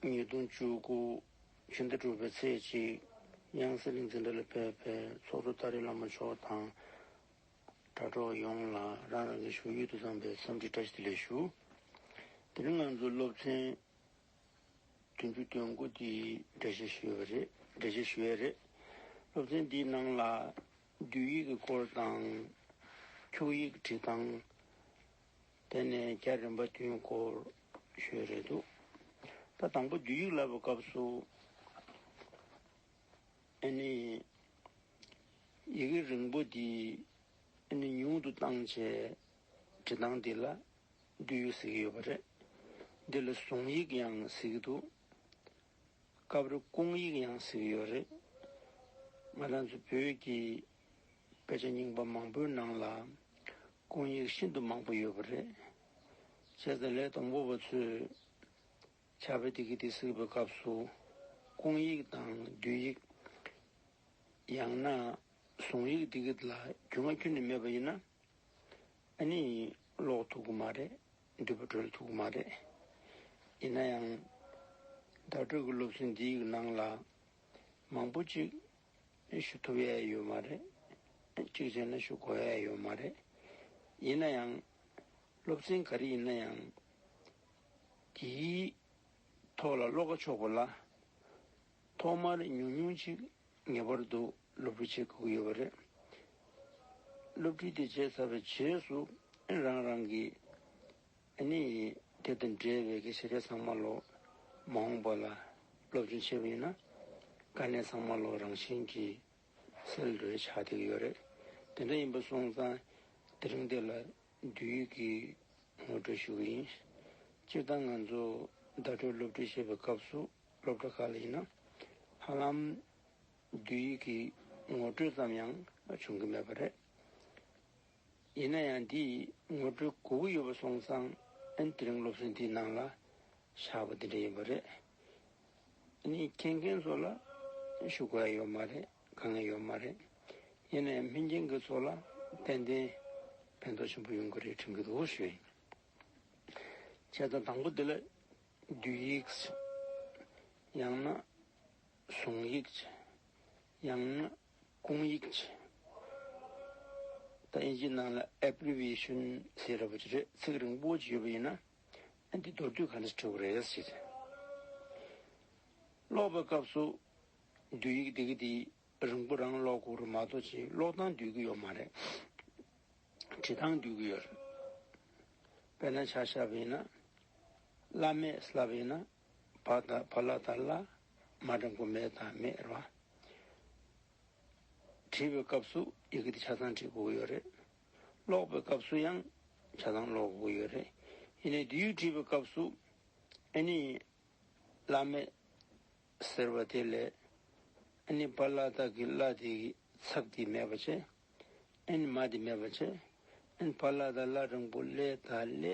ཉིས་སྟོང་བཅུ་དགུ། ཕྱི་ཟླ་དྲུག་པའི་ཚེས་གཅིག། དབྱངས་གསལ་རིག་འཛིན་གྲྭ་ལས་ཕེབས་པའི་ཚོགས་གཙོ་ཏཱ་རེ་བླ་མ་མཆོག་དང། དྲྭ་གྲོགས་ཡོངས་ལ་རང་རང་གི་བཞུགས་ཡུལ་དུ་བསམ་པའི་འཚམས་འདྲི་བཀྲ་ཤིས་བདེ་ལེགས་ཞུ། དེ་རིང་ང་ཚོའི་སློབ་ཚན་བདུན་ཅུ་དོན་དགུ་འདི་འགྲེལ་བཤད་ཞུ་བའི་རེད། འགྲེལ་བཤད་ཞུ་ཡས་རེད། སློབ་ཚན་འདིའི་ནང་ལ་བསྡུས་ཡིག་གི་སྐོར་དང། འཁྱུག་ཡིག་བྲིས་སྟངས། དེ་ནས་རྒྱ་རིམ་པ་བདུན་སྐོར་ཞུས་རེད་འདུག་ད་དང་པོ་བསྡུ་ཡིག་བསླབ་པའི་སྐབས་སུ་ཨེ་ནི། ཡི་གེ་རིང་པོ་འདི་ཨེ་ནི་ཉུང་དུ་བཏང་བྱས་འབྲི་སྟངས་འདི་ལ་བསྡུ་ཡིག་ཟེར་གྱི་ཡོད་པ་རེད། འདི་ལ་གཟུངས་ཡིག་ཡང་ཟེར་གྱི་འདུག་སྐབས་རེ་སྐུང་ཡིག་ཡང་ཟེར་གྱི་ཡོད་རེད། ང་རང་ཚོ་བོད་ཀྱི། སྐད་ཆ་རྙིང་པ་མང་པོའི་ནང་ལ་སྐུང་ཡིག་ཤིན་ཏུ་མང་པོ་ཡོད་པ་རེད། བྱས་ཙང་ལས་དང་པོ་བ་ཚོས་བྱ་བའི་དེ་གི་དེ་སིག་པའི་སྐབས་སུ་སྐུང་ཡིག་དང་བསྡུས་ཡིག་ཡང་ན་བཟུང་ཡིག་དེ་གི་ལ་རྒྱུས་མངའ་ཁྱོན་ནས་མེད་པ་ཡིན་ན་ཨ་ནི་ཀློག་ཐུབ་གི་མ་རེད་འདུས་པ་འགྲོལ་ཐུབ་གི་མ་རེད། ཡིན་ན་ཡང་བརྡ་སྤྲོད་གི་སློབ་ཚན་འདིའི་ནང་ལ་མང་པོ་ཅིག་ནས་ཞུ་ཐུབ་ཡས་ཡོད་མ་རེད། གཅིག་བྱས་ན་ཞུ་གོ་ཡས་ཡོད་མ་རེད། ཡིན་ན་ཡང། སློབ་ཚན་ག་རེ་ཡིན་ན་ཡང། དེའི་ཐོག་ལ་བློ་ཁ་ཕྱོགས་དགོས་ལ། ཐོག་མར་ཉུང་ཉུང་ཅིག་ངེས་པར་དུ་སློབ་ཁྲིད་བྱེད་དགོས་ཀྱི་ཡོད་པ་རེད། སློབ་ཁྲིད་དེ་བྱས་ཚར་བའི་རྗེས་སུ་རང་རང་གི། དེ་ནས་དེ་དང་འབྲེལ་བའི་གེགས་བྱེད་ལས་ཚང་མ་ལོག། མ་འོངས་པ་ལ་སློབ་སྦྱོང་བྱེད་པ་ཡིན་ན། དཀའ་གནད་ཚང་མ་ལོག་རང་བཞིན་གྱིས་སེལ་འགྲོ་བའི་ཆ་དེ་ཡོད་རེད། དེ་འདྲ་ཡིན་པ་སོང་ཙང་དེ་རིང་འདི་ལ་བསྡུས་ཡུལ་གྱི་ངོ་སྤྲོད་ཞུ་གི་ཡིན། སྤྱིར་བཏང་ང་ཚོ་བརྡ་སྤྲོད་སློབ་ཁྲིད་བྱེད་པའི་སྐབས་སུ་སློབ་གྲྭ་ཁག་ལ་ཡིན་ན། ཧ་ལམ་བསྡུས་ཡུལ་གྱི་ངོ་སྤྲོད་ཙམ་ཡང་བྱུང་གི་མེད་པ་རེད། ཡིན་ན་ཡང་འདིས་ངོ་སྤྲོད་གོ་གི་ཡོད་པ་སོང་ཙང་ཨན་དེ་རིང་སློབ་གསོ་འདིའི་ནང་ལ་བཞག་པ་འདི་འདྲ་ཡིན་པ་རེད། འདི་ནི་མཁྱེན་མཁན་ཚོ་ལ་ཞུ་ག་ཡོད་མ་རེད་དཀའ་ངལ་ཡོད་མ་རེད། ཡིན་ན་ཡང་མི་མཁྱེན་མཁན་ཚོ་ལ་ཏན་ཏན་ཕན་ཐོགས་ཆེན་པོ་ཡོང་གི་རེད་དྲན་གི་འདུག་ཞུ་ཡིན། བྱས་ཙང་དང་པོ་འདི་ལ་བསྡུས་ཡིག་ཡང་ན་བཟུང་ཡིག་ཡང་ན་ཀུང་ཡིག་ཅེས་ད་ཨིན་ཇིའི་ནང་ལ Abbreviation ཟེར་ར་བ་ཅིག་རེད་ཚིག་རིང་པོ་ཅིག་ཡོད་པ་ཡིན་ན་འདི་མདོར་བསྡུས་ག་འདྲ་བྲིས་བ་རེད་ཟེར་ཏེ་ཀློག་པའི་སྐབས་སུ་བསྡུས་ཡིག་འདི་གི་འདི་རིང་པོ་རང་ཀློག་གོ་རུ་མ་གཏོགས་ཕྱིའི་ཀློག་སྟངས་བསྡུས་ཀི་ཡོད་མ་རེད་བྲིས་སྟངས་བསྡུས་ཀི་ཡོད་རེད་དཔེར་ན་ཆ་ཤ་བ་ཡིན་ན་བླ་མས་སླ་བ་ཡིན་ན་བ་དང་བ་ལ་དང་བླ་མ་དང་པོ་མེད་དང་མེད་རོ། བྲིས་པའི་སྐབས་སུ་ཡི་གེ་དེ་ཆ་ཚང་བྲིས་གོ་ཡོད་རེད། ཀློག་པའི་སྐབས་སུ་ཡང་ཆ་ཚང་ཀློག་གོ་ཡོད་རེད། ཡིན་ནའི་དེ་ཡུལ་བྲིས་པའི་སྐབས་སུ་ཨེ་ནི། བླ་མེད། ཟེར་བ་དེ་ལས། ཨེ་ནི་བ་ལ་དག་གི་བླ་དེ་གི་ཚབ་དེ་མེད་པ་བྱེད། ཨེ་ནི་མ་དེ་མེད་པ་བྱེད། ཨེ་ནི་བ་ལ་དང་བླ་དང་པོ་ལས་དང་བླའི་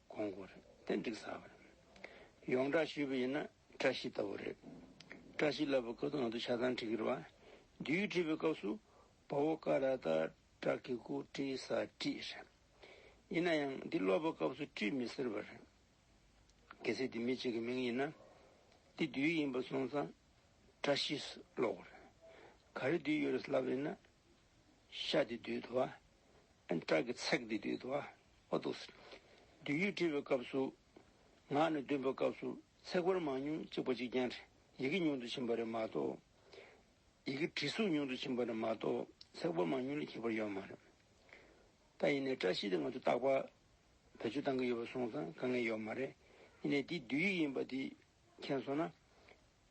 གོང་བཀུར་རེད་ཏན་འགྲིག་ས་བ་རེད། ཡོངས་བསྒྲགས་ཞུས་པ་ཡིན་ན་བཀྲ་ཤིས་ལྟ་བུ་རེད། བཀྲ་ཤིས་ལབ་པ་ཁོ་ཚོ་ང་ཚོ་ཆ་ཚང་ཁྲིག་གི་རེད་བ། རྒྱུ་ཡིག་བྲིས་པའི་སྐབས་སུ་བ་བོ་ཀ་ར་ད་བཀྲ་ཁི་ཁུ་བཀྲིས་ས་བཀྲིས་རེད། ཡིན་ན་ཡང་འདི་ཀློག་པའི་སྐབས་སུ་བཀྲིས་མི་ཟེར་བ་རེད། གལ་སྲིད་འདི་མི་གཅིག་གི་མིང་ཡིན་ན། འདི་བསྡུས་ཡིག་ཡིན་པ་སོང་ཙང་བཀྲ་ཤིས་སུ་ཀློག་བ་རེད། ག་རེ་བསྡུས་ཡོད་རེད་ལབ་ཡིན་ན་ཤ་དེ་བདུད་དུ་བ། བྲག་གི་ཚེག་དེ་བདུད་དུ་བ། བདུད་ཡུལ་བྲི་བའི་སྐབས་སུ། ངག་ནས་འདོན་པའི་སྐབས་སུ་ཚེག་བར་མ་ཉུང་གཅིག་པ་གཅིག་ཀྱང་བྲི། ཡི་གེ་ཉུང་དུ་ཕྱིན་པ་རེད་མ་གཏོགས། ཡི་གེ་བྲི་གཟུགས་ཉུང་དུ་ཕྱིན་པ་རེད་མ་གཏོགས་ཚེག་བར་མ་ཉུང་ལས་ཁྱད་པར་ཡོད་མ་རེད། ད་ཡིན་ནའི་བཀྲ་ཤིས་དེ་ང་ཚོ་རྟག་པ་བེད་སྤྱོད་གཏང་གི་ཡོད་པ་སོང་ཙང་དཀའ་ངལ་ཡོད་མ་རེད། ཡིན་ནའི་འདི་བདུད་ཡིག་ཡིན་པ་དེ་མཁྱེན་སོང་ན།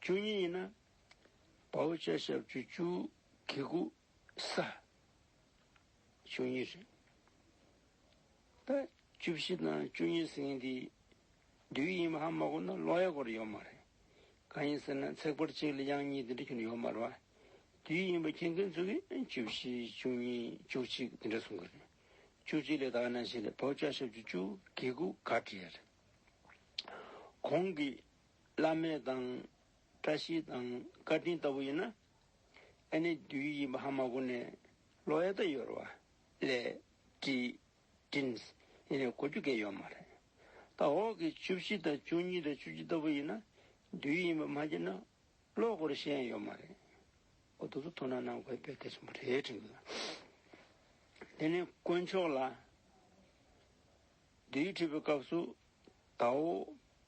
བཅུ་གཉིས་ཡིན་ན། བའོ་བཅད་ཞབས་བཅུ་བཅུ་གི་གུ་ས་བཅུ་གཉིས་རེད། ད་བཅུ་བཞི་དང་བཅུ་གཉིས་ཟེར་མཁན་དེ་བདུད་ཡིན་མ་ཧ་མ་གོ་ན་ཀློག་ཡ་གོ་རེ་ཡོད་མ་རེད། གང་ཡིན་ཟེར་ན་ཚེག་བར་གཅིག་ལ་དབྱངས་གཉིས་དེ་འདྲ་གྱོན་ཡོད་མ་རེད། བདུད་ཡིན་པ་མཁྱེན་མཁན་ཚོ་གིས་བཅུ་བཞི་བཅུ་གཉིས་བཅུ་གཅིག་དེ་འདྲ་གསུང་གི་རེད། བཅུ་གཅིག་ལས་དག་ན་ཞིག་ལས་བའོ་བཅད་ཞབས་བཅུ་བཅུ་གི་གུ་ག་བྲིས་ཡ་རེད། གོང་གི་བླ་མེད་དང། བཀྲ་ཤིས་དང་བཀའ་དྲིན་ལྟ་བུ་ཡིན་ན། ཨ་ནེ་བདུད་ཡི་ཡིན་པ་ཧ་མ་གོ་ནས། ལོ་ཡ་ད་ཡོར་བ། ལས། བཀྲིས། Dreams། ཡིན་ནས་གོ་རྒྱུ་འགས་ཡོད་མ་རེད། ད་འོག་གི་བཅུ་བཞི་དང་བཅུ་གཉིས་དང་བཅུ་བཅུ་ལྟ་བུ་ཡིན་ན། བདུད་ཡི་ཡིན་པ་མ་ཁྱེར་ན། ལོ་གོ་རེ་ཤེས་ཡ་ཡོད་མ་རེད། འོ་དོ་ཚོ་དོ་སྣང་གནང་དགོས་དཔེ་གལ་ཆེན་པོ་རེད་དྲན་གྱི་ཡོད། དེ་ནས་དཀོན་མཆོག་ལ། བདུད་ཡི་ཁྲིད་པའི་སྐབས་སུ། ད་འོག།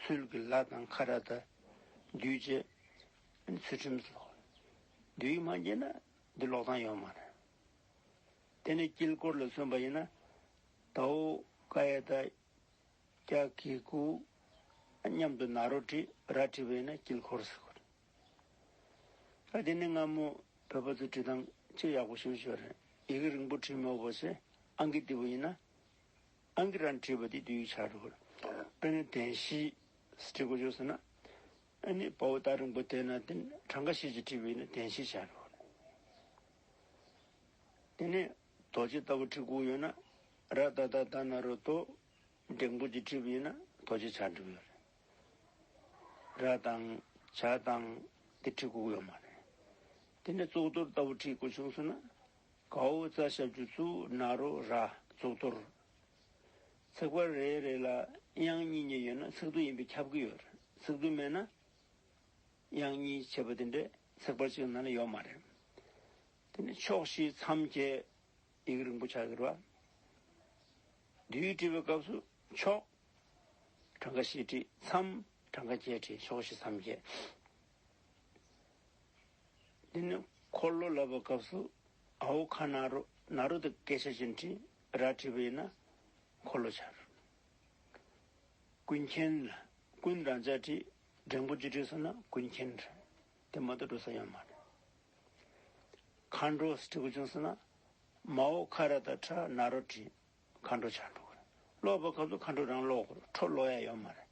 ཚུལ་གྱི་ལྷ་དང་ཁ་ར་ད་བདུད་ཅེས་ཚུལ་ཁྲིམས་སོ། བདུད་ཡིག་མ་འབྱེད་ན་འདི་ལོག་ཐང་ཡོད་མ་རེད། དེ་ནས་དཀྱིལ་འཁོར་ལ་བརྩོན་པ་ཡིན་ན་དྭོགས་ཀ་ཡེ་ད་ཀྱ་ཀི་ཀུ་སྙམ་དུ་ན་རོ་དྲི་ར་བྲིས་པ་ཡིན་ན་དཀྱིལ་འཁོར་ཟེར་དགོས་རེད། དེ་ནས་སྔ་མོ་བོད་པ་ཚོས་བྲིས་ཐང་ཆེས་ཡག་པོ་ཞུ་ཞོར་ཡི་གེ་རིང་པོ་བྲིས་མི་འོས་པ་ཞེས་ཨང་ཀི་ལྟི་བུ་ཡིན་ན་ཨང་ཀི་རན་བྲིས་པ་དེ་དུས་ཆགས་འགྲོ་གི། དཔེར་ན་དན་ཞི། བྲིས་དགོས་བྱུང་ཟེར་ན། ཨཱ་ནི་བའོ་ཏཱ་རིང་པོ་དེ་ན་དེ་གྲངས་ཀ་ཤེས་ཀྱི་བྲིས་པ་ཡིན་ན་དན་ཞི་ཆགས་འགྲོ་གི། དེ་ནས་རྡོ་རྗེ་ལྟ་བུ་བྲིས་དགོས་ཡོད་ན། ར་ཏཱ་ཏཱ་ཏཱ་ན་རོ་ཏོ། འདྲེང་པོ་ཀྱི་བྲིས་པ་ཡིན་ན་རྡོ་རྗེ་ཆགས་འགྲོ་གི་ཡོད་རེད། ར་དང། བྱ་དང། དེ་བྲིས་དགོས་གི་ཡོད་མ་རེད། དེ་ནས་གཙུག་ཏོར་ལྟ་བུ་བྲིས་དགོས་བྱུང་ཟེར་ན། གའུ་རྩ་ཞབས་ཀྱི་གཙུག་ན་རུ་ར་གཙུག་གཏོར། ཚིག་བར་རེ་རེ་ལ་དབྱངས་གཉིས་གཉིས་ཡོད་ན་ཚིག་བསྡུ་ཡིན་པས་ཁྱབ་ཀྱི་ཡོད་རེད་ཚིག་བསྡུ་མེད་ན། དབྱངས་གཉིས་བྱེད་པ་དེ་འདྲའི་ཚིག་བར་གཅིག་ན་ལ་ཡོད་མ་རེད། དེ་ནས་ཕྱོགས་བཞི་མཚམས་བརྒྱད་ཡིག་རིང་པོ་ཆགས་ཀྱི་རེད། དུས་བྲི་བའི་སྐབས་སུ་ཕྱོགས། གྲངས་ཀ་བཞི་བྲི་མཚམས་གྲངས་ཀ་བརྒྱད་བྲི་ཕྱོགས་བཞི་མཚམས་བརྒྱད། དེ་ནས་འཁོར་ལོ་ལབ་པའི་སྐབས་སུ་ཨ་ཧོ་ཁ་ན་རོ་ན་རོ་དེ་སྐད་ཆ་ཅན་དྲི་ར་དྲིས་པ་ཡིན་ན་འཁོར་ལོ་འཆར། ཀུན་མཁྱེན། ཀུན་རང་བྱ་དྲི་འབྲིང་པོ་ཅི་དྲིས་སོང་ན་ཀུན་མཁྱེན། དེ་མ་གཏོགས་འགྲོ་ས་ཡོད་མ་རེད། མཁའ་འགྲོ་དྲི་གུ་བྱུང་སོང་ན་མ་ཧོ་ཁ་ར་ད་ཁྲ་ན་རོ་དྲི། མཁའ་འགྲོ་བྱ་འགྲོ་གིན། ཀློག་པའི་སྐབས་སུ་མཁའ་འགྲོ་རང་ཀློག་དགོས། ཁྲོ་ཀློག་ཡ་ཡོད་མ་རེད།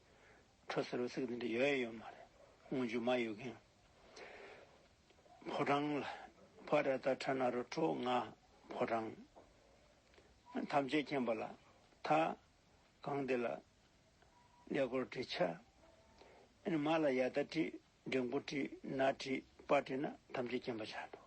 ཁྲོ་ཟེར་བའི་ཚིག་འདི་འདྲ་ཡོད་ཡ་ཡོད་མ་རེད། སྔོན་རྒྱུད་མ་ཡོད་གིན། ཕོ་བྲང་ལ། བྷ་ར་ཏཱ་ཁྲ་ན་རུ་ཁྲོ་ང། ཕོ་བྲང། ཐམས་ཅད་མཁྱེན་པ་ལ། ཐ། གང་འདི་ལ། ཀླད་ཀོར་བྲི། ཆ། མ་ལ་ཡ་ད་བྲི། འདྲེ་མགོ་བྲི། ན་བྲི། པ་བྲི་ན་ཐམས་ཅད་མཁྱེན་པ་བྱ་འགྲོ།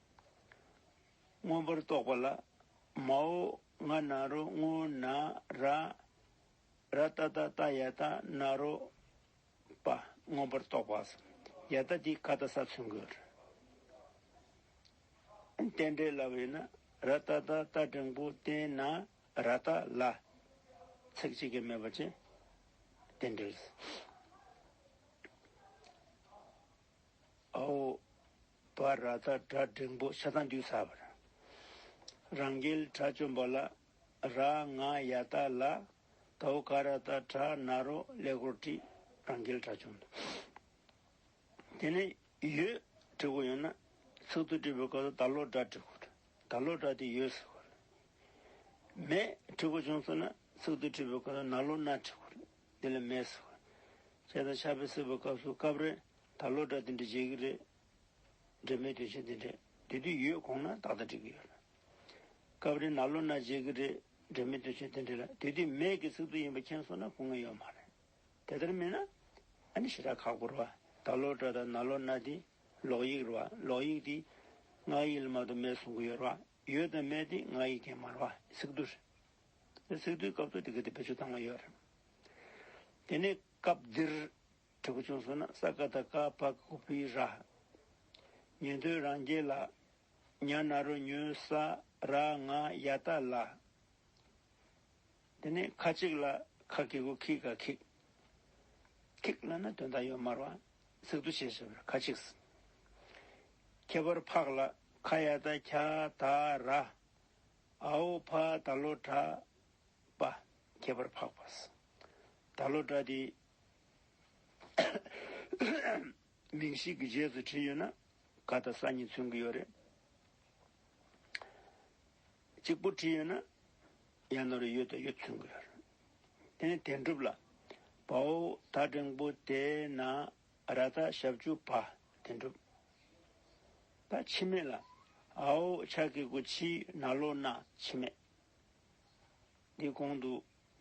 མངོན་པར་རྟོགས་པ་ལ། མ་འོ་ང་ན་རོ་སྔོ་ན་ར། ར་ཏཱ་ཏཱ་ཏ་ཡ་ཏཱ་ན་རོ་པ་མངོན་པར་རྟོགས་པ། ཡ་ཏཱ་དེ་ཀ་ཏཱ་ས་ཚུན་དགོས། རྟེན་འབྲེལ་ལ་བས་ན་ར་ཏཱ་ཏཱ་ཏ་འབྲིང་པོ་རྟེན་ན་ར་ཏཱ་ལ། ཚིག་གཅིག་གིས་སྨོས་པ་ཅན། རྟེན་འབྲེལ། ཨའོ། བ་ར་ད་དགྲ་སྒྲེང་པོ་ཤ་ཚང་རྒྱུ་ས་བ་ར། རང་རྒྱལ་དགྲ་བཅོམ་པོ་ལ་ར་ང་ཡ་ད་ལ་དྭོ་ཀ་ར་ད་དགྲ་ན་རོ་ཀླད་ཀོར་བཀྲི་རང་རྒྱལ་དགྲ་བཅོམ་དུ་དེ་ནས་ཡོད་བྲི་གོ་ཡོད་ན་ཚིག་ཏུ་བྲི་བའི་སྐབས་སུ་ད་ལོ་དགྲ་བྲི་གོ་ད་ལོ་དགྲ་དེ་ཡོད་ཟེར་གོ་མེད་བྲི་གོ་བྱུང་སོང་ན་ཚིག་ཏུ་བྲི་བའི་སྐབས་སུ་ན་ལོ་ན་བྲི་གོ་དེ་ལ་མེད་ཟེར་གོ་ཅེས་དང་ཆ་བེ་སེར་བའི་སྐབས་སུ་སྐབས་རེ་ད་ལོ་སྒྲ་དེ་འདྲ་མཇལ་གི་རེད། འབྲེལ་མེད་དོན་ཆེན་དེ་འདྲས་དེ་དུས་ཡོད་དགོངས་ན་ཏག་ཏག་བྲིས་གི་ཡོད། སྐབས་རེ་ན་ལོ་ན་མཇལ་གི་རེད། འབྲེལ་མེད་དོན་ཆེན་དེ་འདྲས་ལ་དེ་དུས་མེད་ཀྱི་ཚིག་ཏུ་ཡིན་པ་མཁྱེན་སོང་ན་སྐུ་ངལ་ཡོད་མ་རེད། དེ་ལྟར་མིན་ན། ཨ་ནི་ཞེ་དྲག་ཁག་པོར་བ། ད་ལོ་སྒྲ་དང་ན་ལོ་ན་དེ། ལོག་ཡིག་རུ་བ། ལོག་ཡིག་དེ། སྔགས་ཡིག་ལ་མ་གཏོགས་མེད་གསུང་གི་ཡོད་རུ་བ། ཡོད་དང་མེད་དེ་སྔགས་ཡིག་རྐྱེན་མ་རུ་བ། ཚིག་ཏུ་རེད། ཚིག་ཏུའི་སྐབས་སུ་དེ་ག་དེ་བེད་སྤྱོད་བཏང་བ་ཡོད་རེད། དེ་ནས་སྐབས་འདིར། དྲི་གུ་ཆུང་སོ་ན་ས་ཀ་ད་ཀ་པ་ཀུ་པི་ར། ཉན་ཐོས་རང་རྒྱལ་ལ། ཉྭ་ན་རོ་ཉོན་ས་ར་ང་ཡ་ད་ལ། དེ་ནས་ཁ་ཅིག་ལ་ཁ་ཀི་ཀུ་ཁི་ཀ་ཁིག། ཁིག་ལ་ན་དོན་དག་ཡོད་མར་བ་ཚིག་ཏུ་བྱས་བྱས་པར་ཁ་ཅིག་སི། ཁྱད་པར་ཕག་ལ་ཁ་ཡ་ད་ཁྱ་ད་ར། ཨའོ་ཕ་ད་ལོ་གྲ་པ་ཁྱད་པར་ཕག་པ་སི། ད་ལོ་གྲ་དེ་མིང་ཞིག་གི་རྗེས་སུ་བྲིས་ཡོད་ན་ག་དང་ས་གཉིས་མཚོན་གྱི་ཡོད་རེད། གཅིག་པུར་བྲིས་ཡོད་ན་ཡང་ནོར་རེ་ཡོད་དང་ཡོད་མཚོན་གྱི་ཡོད་རེད། དེ་ནས་དེ་འགྲུབ་ལ། བ་འོ་ད་འགྲེང་བུ་དེ་ན་ར་ད་ཞབས་ཅུ་བ་དེ་འགྲུབ། ད་འཆི་མེད་ལ། ཨ་ཨོ་ཆ་ཀེ་ཀུ་ཆིའི་ན་ལོ་ན་འཆི་མེད། འདིའི་གོང་དུ་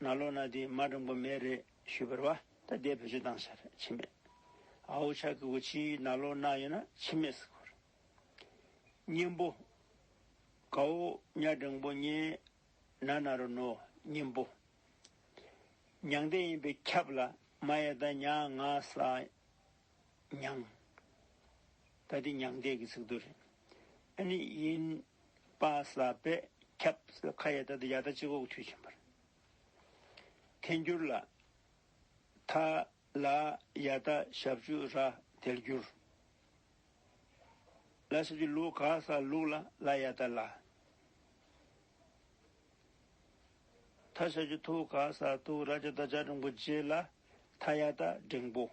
ན་ལོ་ན་དེ་མ་འགྲོ་འགོ་མེད་རེད་ཞུས་པར་བ་ད་ལྟའི་བོད་ཆོས་བཏང་ས་རེད་ཕྱི་མེད་ཨ་ཧོ་ཆ་ཀི་བོ་ཆི་ན་ལོ་ན་ཡོད་ན་ཕྱི་མེད་ཟེར་གོ་རེད། གཉན་པོ། གའོ་གཉའ་སྦྲང་པོ་གཉན་ན་ན་རོ་ནོ་གཉན་པོ། མྱང་འདས་ཡིན་པས་ཁྱབ་ལ་མ་ཡེ་ད་མྱ་ང་ས་མྱང། ད་འདི་མྱང་འདས་ཀྱི་ཚིག་དོན་རེད། ཨ་ནི་དབྱིན་དཔའ་ས་པས་ཁྱབ། ཁ་ཡ་ད་འདི་ཡ་ད་སྤྱི་ཁོག་དུས་ཆེན་པར། ཐལ་འགྱུར་ལ། ཐ། ལ། ཡ་ད་ཞབས་ཅུ་ར་དལ་འགྱུར། ལ་ཞབས་ཅུ་ལུག་ག་ས་ལུག་ལ་ལ་ཡ་ད་ལ། ཐ་ཤལ་གྱི་ཐུགས་ཀ་ས་ཐུགས་ར་ཅི་ད་ཅག་འབྲིང་པོ་རྗེས་ལ་ཐ་ཡ་ད་འབྲིང་པོ།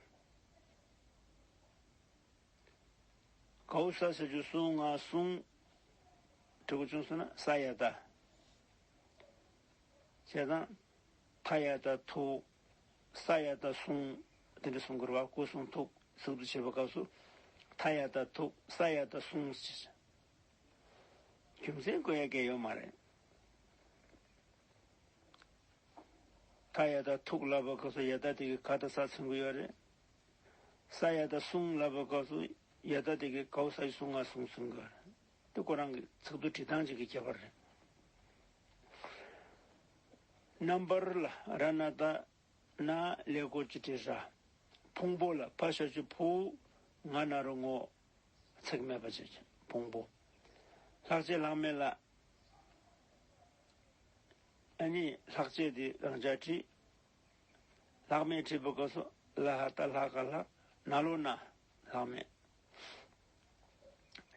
གའུ་ས་ཤལ་གྱི་སུང་ང་སུང། གྲི་གུ་ཆུང་སོ་ན་ས་ཡ་ད། ཞེས་དང། ཐ་ཡ་ད་ཐུགས། ས་ཡ་ད་སུང། དེ་འདྲའི་སུང་འཁོར་བ་སྐུ་གསུང་ཐུགས་གསུང་དུ་བྱེད་པའི་སྐབས་སུ། ཐ་ཡ་ད་ཐུགས་ས་ཡ་ད་སུང། རྒྱུ་མཚན་གོ་ཡ་གས་ཡོད་མ་རེད། ད་ཡ་ད་ཐུག་ལབ་པའི་སྐབས་སུ་ཡ་ད་དེ་གི་ག་ད་ས་ཚིམ་གི་ཡོད་རེད། ས་ཡ་ད་སྲུང་ལབ་པའི་སྐབས་སུ་ཡ་ད་དེ་གི་གའུ་ས་ཡི་སྲུང་ང་སྲུང་ཚིམ་གི་ཡོད་རེད། དེ་ཁོ་རང་གི་ཚིག་ཏུ་བྲིས་སྟངས་ཅིག་གི་ཁྱད་པར་རེད། རྣམ་པར་ལ་ར་ན་ད་ན་ལེ་ཀོ་ཅི་ཏྲི་ར། ཕུང་པོ་ལ་ཕ་ཤ་ཆུ་ཕུའུ་ང་ན་རུ་ངོ། ཚེགས་མེད་པ་བྱེད་ཅིང་ཕུང་པོ། ལྷག་བཅས་ལྷག་མེད་ལ། ཨ་ནི་ལྷག་བཅས་དེ་རང་ཅག་བྲི། ལྷག་མེད་བྲིས་པ་ཀ་སོགས་ལ་ཧ་ད་ལྷག་ག་ལྷག་ན་ལོ་ན་ལྷག་མེད།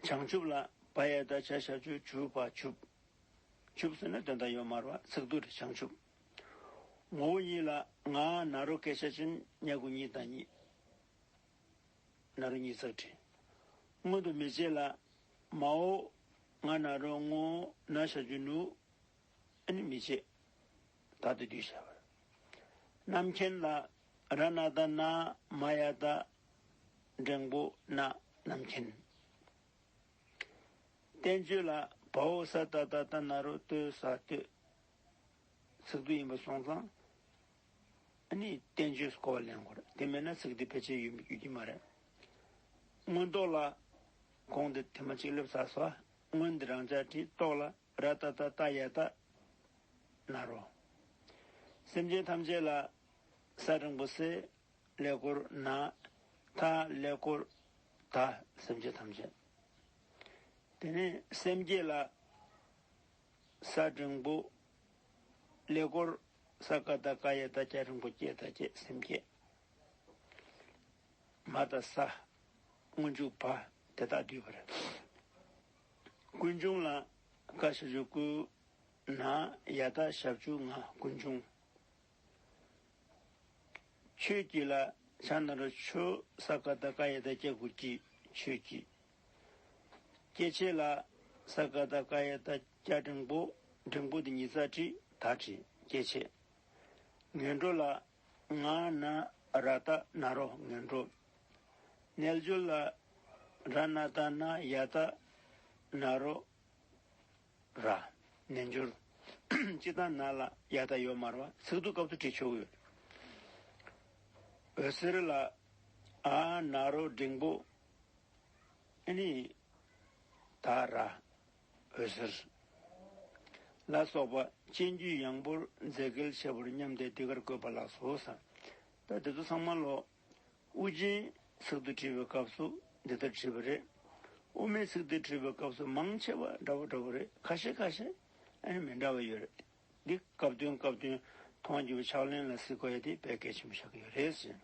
བྱང་ཆུབ་ལ་བ་ཡས་ད་བྱ་བྱ་ཆུ་ཆུ་བ་ཆུབ། ཆུབ་ཟེར་ན་དོན་དང་ཡོ་མར་བ་ཚིག་དུ་རི་བྱང་ཆུབ། ངོ་བོ་ཉིད་ལ་ང་ན་རོ་ཀེ་བྱ་ཅིང་ཉེ་དགུ་ཉིད་དང་ཉིད། ནཱ་རོ་གཉིས་རྩར་བྲི། སྔོན་དུ་མི་བྱེད་ལ། མ་འོ། ང་ནཱ་རོ་སྔོ་ན་བྱ་རྒྱུ་ནུས། ཨ་ནི་མི་བྱེད། ད་དུ་རྒྱུ་བྱ་བར། རྣམ་མཁྱེན་ལ། ར་ན་ད་ན་མ་ཡ་ད། འབྲིང་པོ་ན་རྣམ་མཁྱེན། བསྟན་བཅོས་ལ། བ་འོ་ས་ད་ད་ད་ནཱ་རོ་ཏོའི་ས་སྟོད། ཚིག་སྡུད་ཡིན་པ་སོང་ཙང། ནི་བསྟན་བཅོས་སུ་གོ་བ་ལེན་དགོས་རེད་དེ་མེད་ན་ཚིག་འདི་ཕལ་ཆེར་ཡོད་ཀྱི་མ་རེད། མངོན་རྟོགས་ལ། གོང་འདི་དེ་མ་གཅིག་སླེབ་ཚར་སོ། སྔོན་འདི་རང་ཅག་དྲིས་རྟོགས་ལ་ར་ཏཱ་ཏཱ་ཏཱ་ཡ་ཏཱ། ནཱ་རོ། སེམས་ཅན་ཐམས་ཅད་ལ། ས་རིང་པོ་སེ། ཀླད་ཀོར་ནཱ། ཐ། ཀླད་ཀོར། ཐ། སེམས་ཅན་ཐམས་ཅད། དེ་ནས་སེམས་བསྐྱེད་ལ། ས་འབྲིང་པོ། ལས་སྐོར། ས་ཀ་དག་ཀ་ཡེ་དག་ཀྱ་རིན་པོ་ཀྱེ་དག་ཀྱེ་སེམས་ཀྱེ། མ་དང་ས། སྔོན་འཇུག་བ། དེ་དག་བསྡུས་པར། ཀུན་འབྱུང་ལ། ཀ་ཤི་བཞུགས་སྐུ། ན། ཡ་དག་ཞབས་ཆུ་ང་ཀུན་འབྱུང། ཆོས་སྐྱིད་ལ། ཕྱག་ན་རོ་ཆུ། ས་ཀ་དག་ཀ་ཡེ་དག་ཀྱ་གུ་ཀྱི། ཆོས་སྐྱིད། སྐྱེ་མཆེད་ལ། ས་ཀ་ད་ཀ་ཡ་ད་སྐྱ་འབྲིང་པོ། འབྲིང་པོ་དེ་ཉིད་རྩ་བྲི་ད་བྲི་སྐྱེ་མཆེད། ངན་འགྲོ་ལ། ང་ན་ར་ད་ན་རོ་ངན་འགྲོ། རྣལ་འབྱོར་ལ། ར་ན་ད་ན་ཡ་ད་ན་རོ། ར། རྣལ་འབྱོར། སྤྱི་དང་ན་ལ་ཡ་ད་ཡོ་མར་བ་ཚིག་ཏུ་སྐབས་སུ་བྲི་ཆོག་ཡོད། འོད་ཟེར་ལ། ཨ་ན་རོ་འབྲིང་པོ། ཨེ་ནི། ད་ར། འོད་ཟེར། ལ་སོགས་པ་སྤྱན་དཀྱུས་ཡངས་པོར་མཛེས་སྐལ་ཆེ་བར་སྙམ་སྟེ་འདི་གར་བཀོད་པ་ལགས་སོ། ས་ད་དེ་ཚོ་ཚང་མ་ལོ། དབུ་རྒྱན་ཚིག་ཏུ་བྲིས་པའི་སྐབས་སུ་འདི་ལྟར་བྲིས་པ་རེད། དབུ་མའི་ཚིག་ཏུ་བྲིས་པའི་སྐབས་སུ་མང་ཆེ་བ་འདྲ་བོ་འདྲ་བོ་རེད་ཁ་ཤས་ཁ་ཤས་ཨེ་ནི་མི་འདྲ་བ་ཡོད་རེད། འདི་སྐབས་དོན་སྐབས་དོན་མཐོང་རྒྱུ་བའི་ཕྱག་ལེན་ལ་གཟིགས་དགོས་ཡ་དེ་བས་གལ་ཆེན་པོ་ཆགས་ཀྱི་ཡོད་རེད།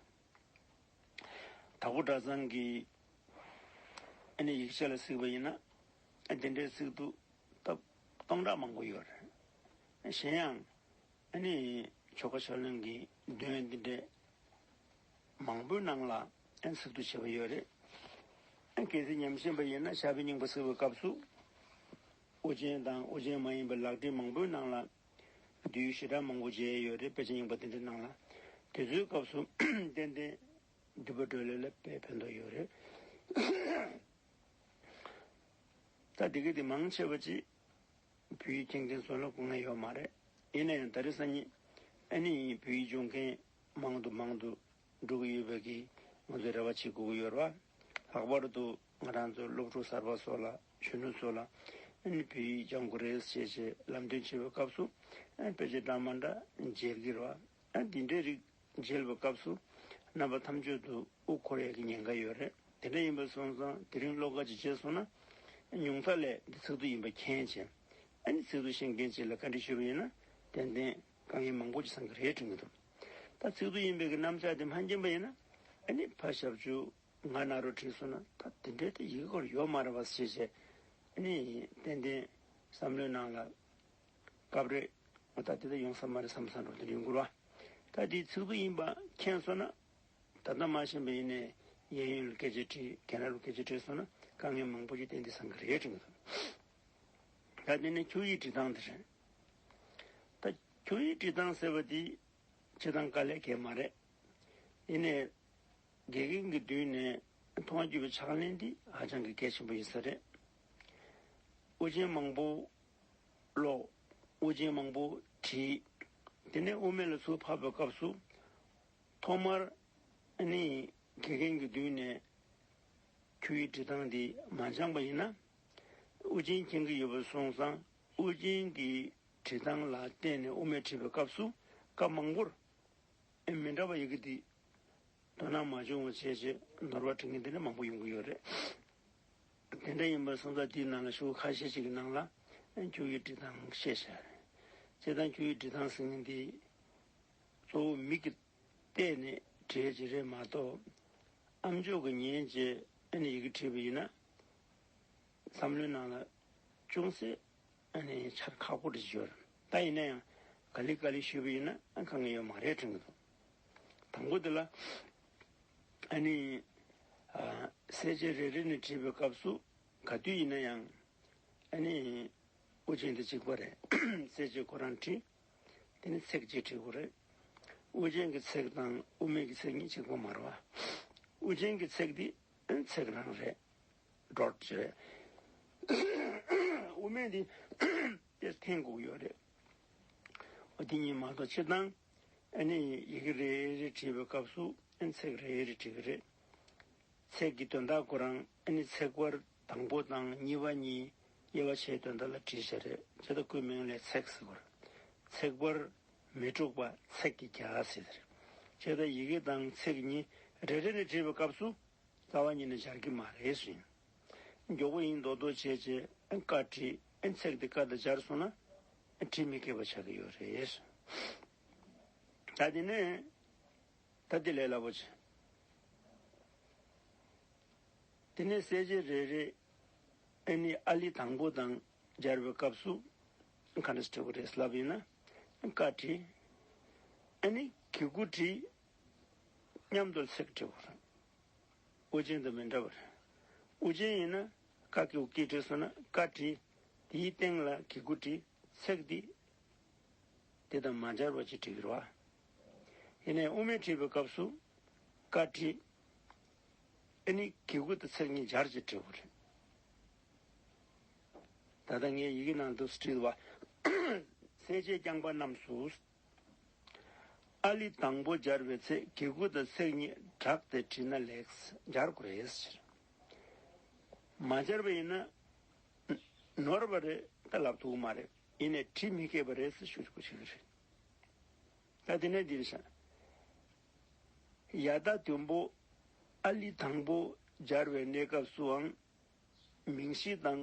དྭགས་པོ་གྲྭ་ཚང་གིས་ཨ་ནི་ཡིག་ཆ་ལ་གཟིགས་པ་ཡིན་ན་དེ་འདྲའི་ཚིག་ཏུ་སྟབས་སྟོང་ཕྲག་མང་པོ་ཡོད་རེད། གཞན་ཡང་ཨ་ནི་ཆོལ་ཁ་ཆོས་ལོན་གྱི་འདུལ་བ་འདི་འདྲའི་མང་པོའི་ནང་ལ་ཚིག་ཏུ་བྱས་པ་ཡོད་རེད། གལ་སྲིད་ཉམས་ཞན་པ་ཡིན་ན་ཞྭ་བའི་སྙིང་པོ་གཟིགས་པའི་སྐབས་སུ་ཨོ་རྒྱན་དང་ཨོ་རྒྱན་མ་ཡིན་པའི་ལག་བྲིས་མང་པོའི་ནང་ལ་བསྡུས་བཞི་སྦྲགས་མང་པོ་བརྗེ་ཡོད་རེད་དཔེ་ཆ་རྙིང་པ་འདི་འདྲ་གནང་ལ། དེ་ཚོའི་སྐབས་སུ་ཏན་ཏན་བསྡུས་པ་སྒྲོལ་ལེ་ལ་དཔེ་ཕན་ཐོགས་ཡོད་རེད། ད་དེ་གི་དེ་མང་ཆེ་བ་ཅིག་བོད་ཡིག་མཁྱེན་མཁན་ཚོ་ལ་གོ་ངེས་ཡོད་མ་རེད། ཡིན་ན་ཡང་ད་རེས་སང་ཉིན་ཨ་ནེ་ཡིན་བོད་ཡིག་སྦྱོང་མཁན་མང་དུ་མང་དུ་འགྲོ་གི་ཡོད་པའི་གི་ང་ཚོས་རེ་བ་བྱེད་དགོས་ཀྱི་ཡོད་ར་བ། ལྷག་པར་དུ། ང་རང་ཚོའི་སློབ་ཕྲུག་གསར་པ་སོགས་ལ་གཞོན་ནུ་ཚོ་ལ་ཨན་བྷི་ལྗང་ཁུ་རེད་ཅེས་ཅེས་ལམ་སྟོན་བྱེད་པའི་སྐབས་སུ་ཨན་བྷི་ལྕེ་སྦྲང་མ་འདྲ་འཇལ་གྱི་རོ་ཨན་འདི་འདྲའི་རིགས་འཇལ་བའི་སྐབས་སུ་རྣམ་པ་ཐམས་ཅད་དུ་དབུགས་འཁོར་ཡག་གི་ཉེན་ཁ་ཡོད་རེད་དེ་འདྲ་ཡིན་པ་སོང་ཙང་དེ་རིང་བློ་དགའ་ཅིག་བྱས་སོང་ན་ཉུང་མཐའ་ལས་འདི་ཚིག་ཏུ་ཡིན་པ་མཁྱེན་ཅིང་ཨན་ནི་ཚིག་ཏུ་ཤེས་མཁན་ཅིག་ལ་བཀའ་འདྲི་ཞུ་བ་ཡིན་ན་ཏན་ཏན་དཀའ་ངལ་མང་པོ་ཅིག་སངས་ཀྱི་རེད་དྲན་གྱི་འདུག་ད་ཚིག་ཏུ་ཡིན་པའི་གི་གནམ་ལྕགས་དེ་མ་མཁྱེན་པ་ཡིན་ན་ཨན་ནི་ཕ་ཞབས་ཆུ། ང་རྣ་རུ་དྲིས་སོང་ན་ད་དེ་འདྲའི་ཡི་གེ་སྐོར་ཡོད་མ་རེད་བ་ཞེས་བཤད། ནི། ཏན་ཏན། བསམ་བློའི་ནང་ལ། སྐབས་རེ། ང་ད་དེ་ལྟར་ཡོང་ས་མ་རེད་བསམ་ས་འགྲོ་དེ་འདྲའི་མགུར་བ། ད་དེའི་ཚིག་དོན་ཡིན་པ་མཁྱེན་སོང་ན། ད་ལྟ་མ་ཤེས་པ་ཡིན་ནའི། གཡས་གཡོན་ལ་སྐད་ཆ་དྲིས་གན་ར་རུ་སྐད་ཆ་དྲིས་སོང་ན་དཀའ་ངལ་མང་པོ་ཞིག་ཏན་ཏན་བཟང་གི་རེད་དྲི་གི་འདུག། ད་དེ་ནི་ཁྱོད་ཡིག་འབྲི་སྟངས་དེ་རེད། ད། ཁྱོད་ཡིག་འབྲི་སྟངས་ཟེར་བ་དེ། བྱེད་སྟངས་དཀའ་ལས་བརྒལ་མ་རེད། ཡིན་ནའི། དགེ་རྒན་གྱི་མདུན་ནས་མཐོང་བ་བརྒྱུད་པའི་ཕྱག་ལེན་འདི་ཧ་ཅང་གི་གལ་ཆེན་པོ་ཡིན་ས་རེད། དབུ་ཅན་མང་པོ་ཀློག། དབུ་ཅན་མང་པོ་བྲིས། དེ་ནས་དབུ་མེད་ལ་ཚུར་ཕབ་པའི་སྐབས་སུ། ཐོག་མར་ནི་དགེ་རྒན་གྱི་མདུན་ནས་ཁྱོད་ཡི་འབྲི་སྟངས་འདི་མ་སྦྱངས་པ་ཡིན་ན། དབུ་ཅན་མཁྱེན་གི་ཡོད་པར་གསུངས་སང་དབུ་ཅན་གྱི་བྲི་སྟངས་ལ་བརྟེན་ནས་དབུ་མེད་བྲིས་པའི་སྐབས་སུ་སྐབས་མང་པོར། ཨེ་མི་འདྲ་བ་ཡོད་གི་འདུག་དོ་སྣང་མ་བྱུང་བ་བྱས་རྗེས་ནོར་བ་འཕྲོད་མཁན་དེ་འདྲ་མང་པོ་ཡོང་གི་ཡོད་རེད། དེ་འདྲ་ཡིན་པར་སོང་ཙང་དེའི་ནང་ལ་ཤོག་བུ་ཁ་ཤས་ཤིག་གི་ནང་ལ་རྒྱུ་ཡི་འབྲི་སྟངས་བཤད་བྱས་རེད། བྱས་ཙང་རྒྱུ་ཡི་འབྲི་སྟངས་ཟེར་མཁན་དེ་གཙོ་བོ་མིག་གིས་བལྟས་ནས་བྲིས་ཀྱི་རེད་མ་གཏོགས། ཨ་མཆོག་གིས་ཉན་རྗེས་ཨེ་ནས་ཡི་གེ་བྲིས་པ་ཡིན་ན། བསམ་བློའི་ནང་ལ་ཅུང་ཟད་ཆར་ཁག་པོ་འདྲི་བྱོས། ད་ཡིན་ན་ཡང་ག་ལི་ག་ལི་ཞུས་པ་ཡིན་ན་ག་ངེས་ཡོད་མ་རེད་དྲན་གྱི་འདུག་དང་པོ་དེ་ལ། གསལ་བྱེད་རེ་རེ་ནས་བྲིས་པའི་སྐབས་སུ་ག་དུས་ཡིན་ན་ཡང། དབུ་ཅན་དེ་གཅིག་པ་རེད། གསལ་བྱེད་ཁོ་རང་བྲིས་དེ་ནི་ཚེག་གཅིག་བྲིས་དགོས་རེད། དབུ་ཅན་གྱི་ཚེག་དང་དབུ་མེད་ཀྱི་ཚེག་གཉིས་གཅིག་པ་མ་རེད། དབུ་ཅན་གྱི་ཚེག་དེ་ཚེག་རང་རེད། འགྲོར་བྱེད། དབུ་མེད་འདི། དེར་ཐེངས་དགུ་ཡོད་རེད། འོ་འདི་གཉིས་མ་གཏོགས་ཕྱིར་བཏང། ཨ་ནི་ཡི་གེ་རེ་རེ་བྲིས་པའི་སྐབས་སུ་ཨ་ནི་ཚེག་རེ་རེ་བྲིས་ཀྱི་རེད། ཚེག་གི་དོན་དག་གོ་རང་ཨ་ནི་ཚེག་བར་དང་པོ་དང་གཉིས་པ་གཉིས་དབྱེ་བ་ཕྱེའི་དོན་དག་ལ་བྲིས་བྱས་རེད་ཇི་ལྟ་སྐུའི་མིང་ལས་ཚེག་ཟེར་བར། ཚེག་བར་མི་དྲུག་པ་ཚེག་གི་བརྒྱ་ཟེར། ཇི་ལྟ་ཡི་གེ་དང་ཚེག་གཉིས་རེ་རེ་ནས་བྲིས་པའི་སྐབས་སུ་རྩ་བ་ཉིད་ནས་སྦྱར་གྱི་མ་རེད་ཟེར། མགྱོགས་པོ་ཡིན་མདོག་མདོག་བྱེད་ཅེས་བཀའ་ཁྲི་ཚེག་འདི་བཀའ་ལྟ་སྦྱར་སོང་ན་དྲི་མི་སྐྱེ་བ་ཆགས་ཀྱི་ཡོད་རེད། ད་དེ་ནས་ད་དེ་ལས་སླ་པོ་ཆེ། དེ་ནས་གསལ་བྱེད་རེ་རེ་ནི་ཨཱ་ལི་དང་པོ་དང་སྦྱར་བའི་སྐབས་སུ་ག་འདྲ་བྱེད་དགོས་རེད་ཟེར་ལབ་ཡིན་ན་བཀའ་ཁྲི་ནི་གི་གུ་ཁྲི་མཉམ་དུ་ཚེག་བྲི་བར། དབུ་ཅན་དུ་མི་འདྲ་བར། དབུ་ཅན་ཡིན་ན་ཀ་ཀི་ཝུ་ཀི་བྲི་གསུངས་ན་ཀ་བྲི། དེའི་སྟེང་ལ་གི་གུ་བྲི། ཚེག་འདི། དེ་དང་མ་སྦྱར་བ་ཅིག་བྲི་བར་བ། དེ་ནས་དབུ་མེད་བྲི་བའི་སྐབས་སུ། ཀ་བྲི། ཨེ་ནི་གི་གུ་དང་ཚེག་གཉིས་སྦྱར་ཅིག་བྲི་བར། ད་ལྟ་ངའི་ཡི་གེ་ནང་དུ་བྲིས་བ། གསལ་བྱེད་རྐྱང་པ་རྣམས་སུ། ཨཱ་ལི་དང་པོ་སྦྱར་བའི་ཚེ་གེ་གུ་དང་ཚེག་གཉིས་བསྒྲགས་ཏེ་བྲིས་ན་ལེགས། སྦྱར་དགོས་ཕྱིར། མ་སྦྱར་བ་ཡིན་ན། ནོར་བ་རེད་ད་ལབ་ཐུག་མ་རེད་ཡིན་ནས་བྲིས་མི་དགོས་པ་རེད་ཟེར་ཞུ་དགོས་ཀྱི་རེད། ད་དེ་ནས་འདིར་བཞག། ཡ་ད་དུམ་བུ་ཨཱ་ལི་དང་པོ་སྦྱར་བའི་གནས་སྐབས་སུའང་མིང་གཞི་དང་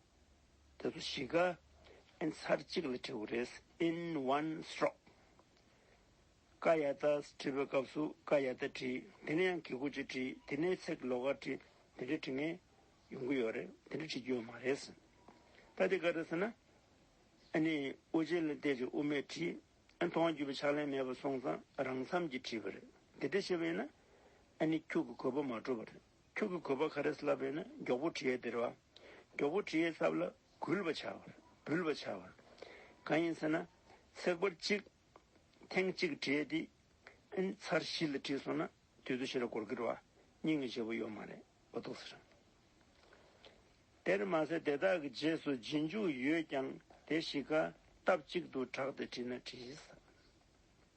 དེ་ཚོ་ཞིག་ཨིན་ཚར་གཅིག་ལ་བྲི་བ་རེད in one stroke། ཀ་ཡ་ཏཱ་བྲི་བའི་སྐབས་སུ་ཀ་ཡ་ཏཱ་བྲི། དེ་ནས་ཡང་གི་གུ་ཅི་བྲི། དེ་ནས་ཚེ་གི་ལོ་ཀ་བྲི། དེ་འདྲའི་བྲི་ངེས་ཡོང་གི་ཡོད་རེད། དེ་འདྲ་བྲི་རྒྱུ་ཡོད་མ་རེད། ད་དེ་ག་རེད་ཟེར་ན། ཨ་ནི་ཨུ་ཅེ་ལ་བལྟས་ཅིག་ཨུ་མས་བྲིས། ཨན་ཐོག་བརྒྱུད་པའི་ཕྱག་ལེན་མེད་པར་སོང་ཙང་རང་འཚམས་ཀྱིས་བྲིས་པ་རེད། དེ་འདྲ་བྱས་པ་ཡིན་ན། ཨ་ནི་ཁྱུག་གི་གོ་བ་མ་འགྲོ་བ་རེད། ཁྱོད་ཀྱི་གོས་པ་ག་རེ་བསླབ་པས་ན་མགྱོགས་པོ་གྲི་ཡས་དེར་བ། མགྱོགས་པོ་གྲི་ཡས་བསླབ་ལ་གུལ་བ་བྱ་བར་འབུལ་བ་བྱ་བར། གང་ཡིན་ཟེར་ན། ཚེག་བར་གཅིག། ཐེངས་གཅིག་གྲི་ཡས་དེ། ཨིན། ཚར་བཞི་ལ་བྲིས་སོང་ན་དུས་ཚོད་ཤི་ར་གོར་གིར་བ། སྙིང་གི་བྱེད་པོ་ཡོད་མ་རེད་བ་འདུག་ཟེར། དེར་མ་ཟད་དེ་དག་གི་རྗེས་སུ་རྗེས་འཇུག་ཡོད་ཀྱང་དེ་བཞི་ཀ་སྟབས་གཅིག་ཏུ་གྲགས་ཏེ་བྲིས་ན་བྲིས་ཟ།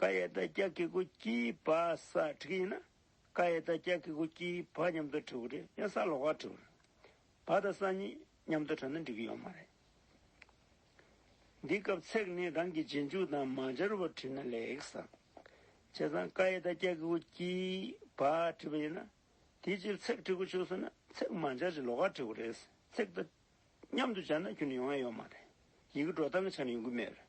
ཀ་ཡེ་ད་ཀྱ་ཀི་ཀུ་ཀྱི་པ་ས་ཁྲི་ཀ་ཡིན་ན། ཀ་ཡེ་ད་ཀྱ་ཀི་ཀུ་ཀྱི་བ་མཉམ་དུ་ཁྲི་ཀུ་ཀྲི་ཡང་ས་ལོག་ཀ་ཁྲི་ཀུ་རེད། བ་དང་ས་གཉིས་མཉམ་དུ་ཁྲིད་ན་འགྲིག་གི་ཡོད་མ་རེད། འདི་སྐབས་ཚེག་ནི་རང་གི་རྗེས་འཇུག་དང་མ་སྦྱར་བར་ཁྲིད་ན་ལེགས། བྱས་ཙང་ཀ་ཡེ་ད་ཀྱ་ཀི་ཀུ་ཀྱི་བ་ཁྲིད་པ་ཡིན་ན། དེའི་རྗེས་ཚེག་ཁྲི་ཀུ་བྱུགས་སོང་ན་ཚེག་མ་སྦྱར་ཅིང་ལོག་ཀ་ཁྲི་ཀུ་རེད། ཚེག་དང་མཉམ་དུ་སྦྱར་ན་ཁྱོད་ནི་ཡོང་ཡ་ཡོད་མ་རེད། ཡི་གེ་འགྲོ་སྟངས་ཀྱི་ཆ་ནས་ཡོང་གི་མེད་རེད།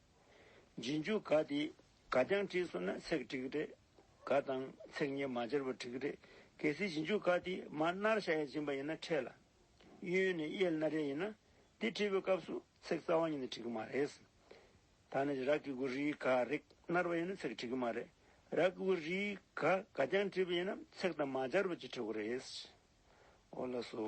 རྗེས་འཇུག་ག་དེ་ག་རྐྱང་བྲིས་སོང་ན་ཚེག་དྲེག་རེད། ག་དང་ཚེག་གཉིས་མ་སྦྱར་བར་དྲེག་རེད། གལ་སྲིད་རྗེས་འཇུག་ག་དེ་མ་སྣར་ཤ་ཡ་སྦྱིན་པ་ཡིན་ན་ཁྲེས་ལ། གཡོན་ནས་གཡས་སྣ་རེ་ཡིན་ན། དེ་བྲིས་པའི་སྐབས་སུ་ཚེག་རྩ་བ་གཉིས་ནི་དྲེག་མ་རེད། ད་ནི་རག་གི་གུ་རིའི་ག་རེག་སྣར་བ་ཡིན་ན་ཚེག་དྲེག་མ་རེད། རག་གི་གུ་རིའི་ག་ག་རྐྱང་བྲིས་པ་ཡིན་ན་ཚེག་དང་མ་སྦྱར་བ་གྱི་དྲེག་གོ་རེད། ཨོ་ལ་སོ།